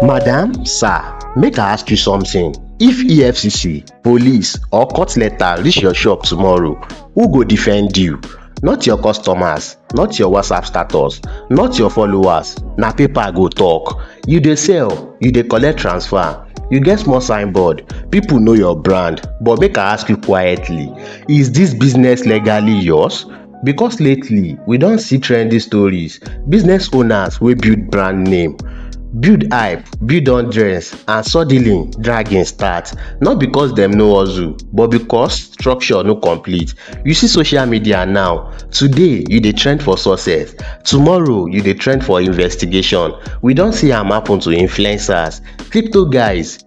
Madam, sir, make I ask you something. If EFCC, police or court letter reach your shop tomorrow, who go defend you? Not your customers, not your WhatsApp status, not your followers, na paper go talk. You dey sell, you dey collect transfer, you get small signboard, people know your brand, but make I ask you quietly, is this business legally yours? because lately we don see trendy stories business owners wey build brand name build hype build audience and suddenly dragging start not because dem no hustle but because structure no complete you see social media now today you dey trend for success tomorrow you dey trend for investigation we don see am happen to influencers crypto guys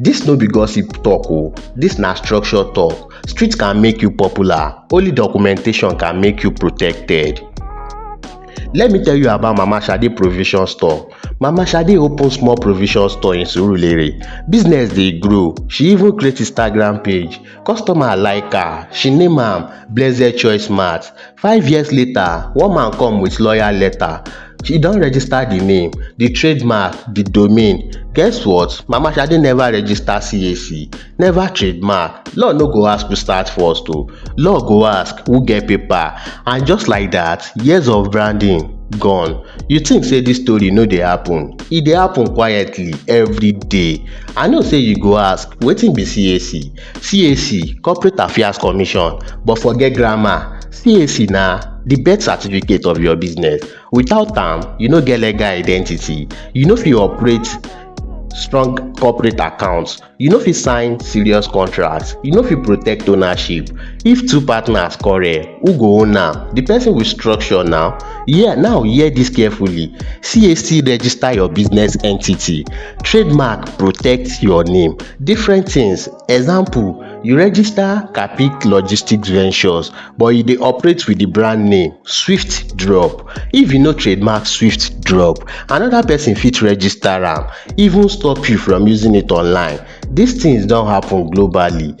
Dis no be gossip talk oh, dis na structure talk. Street can make you popular, only documentation can make you protected. Let me tell you about Mama Shade provision store. Mama Shade open small provision store in Surulere. Business dey grow, she even create Instagram page. Customer like her, she name am Blessed Choice Mart. Five years later, one man come with lawyer letter. She don register the name, the trademark, the domain. Guess what? Mama Shade never register CAC, never trademark. Law no go ask who start first o. Law go ask who get paper. And just like that, years of branding gone. You think say this story no dey happen? E dey happen quietly every day. I know sey you go ask wetin be CAC? CAC Corporate Affairs Commission but forget grammar CAC na the birth certificate of your business without am you no get legal identity you no fit operate strong corporate account you no fit sign serious contract you no fit protect ownership if two partners quarrel who go own am the person will structure now yeah now hear this carefully CAC register your business entity Trademark protect your name, different things example you register Capeak logistic ventures but you dey operate with the brand name swift drop if you no trademark swift drop another person fit register am even stop you from using it online this things don happen globally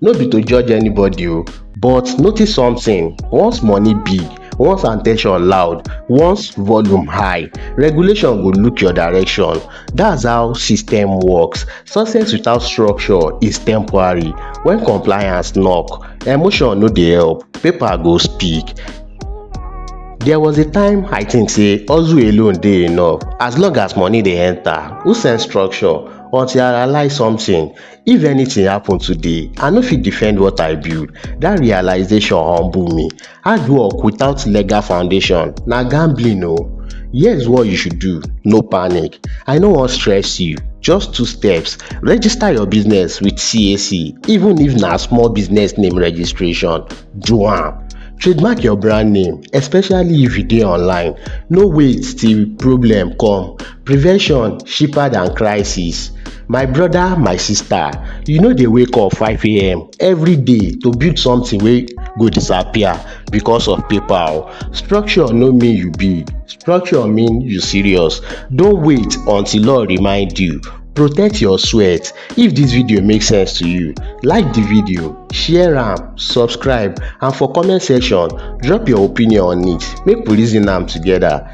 no be to judge anybody o but notice something once money big once at ten tion loud once volume high regulation go look your direction that's how system works success without structure is temporary when compliance knock emotion no dey help paper go speak There was a time I think say hustle alone dey enough as long as money dey enter. Who send structure? Until I realize something, If anything happen today, I no fit defend what I build. That realization humble me. Hard work without legal foundation na gambling o. Here's what you should do, no panic. I no wan stress you, just two steps. Register your business with CAC, even if na small business name registration, do am. Trademark your brand name, especially if you dey online. No wait till problem come. Prevention cheaper than crisis. My brother, my sister, you no dey wake up 5am every day to build something wey go disappear because of paper o. Structure no mean you big, structure mean you serious. No wait until law remind you, protect your sweat. If dis video make sense to you, like the video, share am, subscribe and for comment section drop your opinion on it make we reason am together.